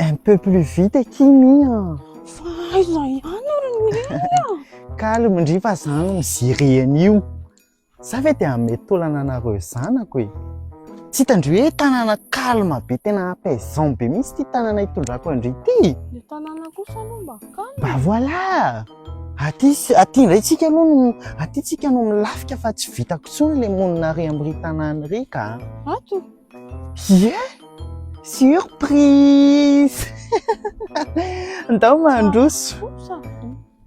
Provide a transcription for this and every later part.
Un peu plus vite aky mi a. Fa aiza ihany ary ny hira? Calme ndry fa za no mijery an'io. Za ve dia hanome taolana anareo zanako e. Tsy hitandry hoe tanàna calme be tena apaisant be mihitsy ity tanàna hitondrako andry ity. Ny tanàna kosa aloha mba calme. Bah voilà. Aty aty indray tsika aloha no aty tsika no milafika fa tsy vitako intsony le monina ary amin'ny ry tanàna ry ka. Ato? Yeah! Surprise! Ndao mandroso.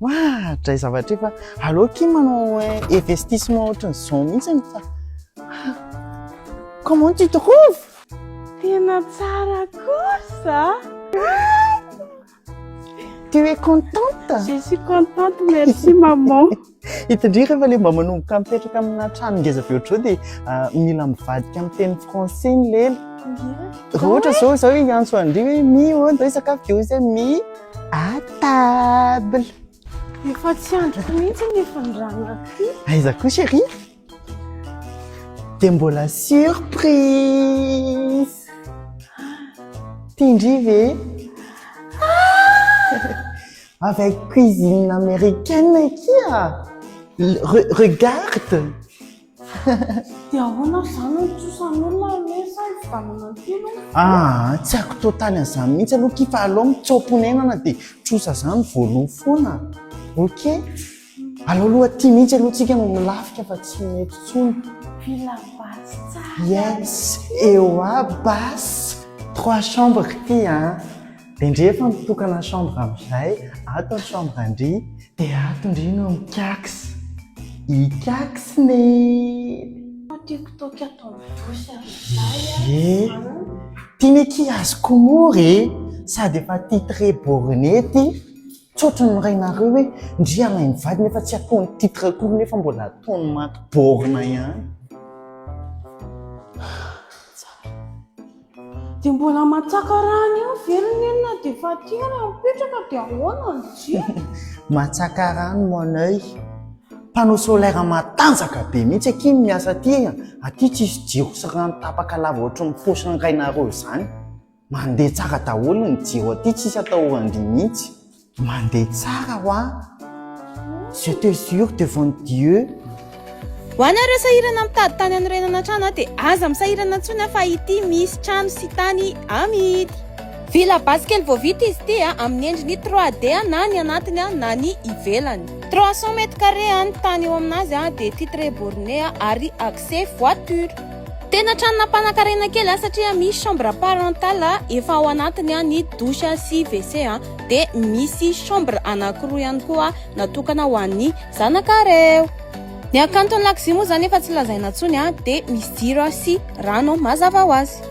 Wah, dray zavatra efa allo ki manao investissement ohatry ny zao mihitsy ny fa. Comment tu trouves? Tena tsara kosa. Tu es contente? Je suis contente, merci maman. Hitandreo rehefa le mba manomboka mipetraka amina trano ngeza be ohatrao dia ah, mila mivadika amin'ny teny français ny lely. Raha ohatra zao zao hoe hiantso andry hoe mi o ndao hisakafo dia ozy mi à table. Efa tsy andriko mihitsy ny fandrana. Aiza koa chérie? Dia mbola surprise Tian-dry ve? Ah! Avec cuisine américaine akia Re, Regarde Dia ahoana ary izany no trosan'olona anie sa hividanana aty aloha? Ah, tsy haiko totaly an'izany mihitsy aloha akia fa aleo mitsaom-ponenana dia trosa izany voaloha foana. Ok? Aleo aloha aty mihitsy aloha tsika no milafika fa tsy mety tsony. Villa basse tsara. Yes, eo aby basse. Trois chambres ity an! Dia ndry efa mitokana chambre amin'izay, ato ny chambre an-dry, dia ato ndry no mikax. Ikaxn e! Fa tiako toky ato amin'ny douche amin'izay an! Ye! Ty ne ki azoko moa re! Sady efa titre borne ty. Tsotra ny miray nareo hoe ndry alain mivady nefa tsy ataony titre akory nefa mbola ataony maty borne ihany. Dia mbola matsaka rano eo ve ry neny na dia efa aty ary mipetraka dia ahoana ny jiro? Matsaka rano mon oeil. Panneau solaire matanjaka be mihitsy akia ny miasa aty e! Aty tsisy jiro sy rano tapaka lava ohatry ny paosy ny rainareo izany. Mandeha tsara daholo ny jiro aty tsisy atahoran-dry mihitsy. Mandeha tsara hoa. Je te jure devant Dieu. Ho an ireo sahirana mitady tany anorenana trano dia aza misahirana intsony fa ity misy trano sy tany amidy. Villa basy kely vao vita izy ity amin'ny endriny trois D na ny anatiny na ny ivelany. Trois cents mètres carrés ny tany eo aminazy dia titre borne ary accès voiture. Tena trano nampanakarena kely a satria misy chambre parentale efa ao anatiny a ny douche sy WC a dia misy chambre anankiroa ihany koa natokana ho an'ny zanakareo. Ny hakanton'ny lakozia moa izany efa tsy lazaina intsony a dia misy jiro sy rano mazava ho azy.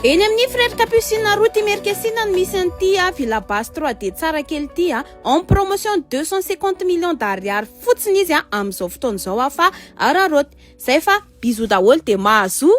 Eny amin'ny Frères Capucines route Imerinkesina no misy an'ity villa base 3D tsara kely ity a. en promotion deux cent cinquante millions d'ariary fotsiny izy amin'izao fotoana izao aho fa araraoty zay fa bisous daholo dia mahazoa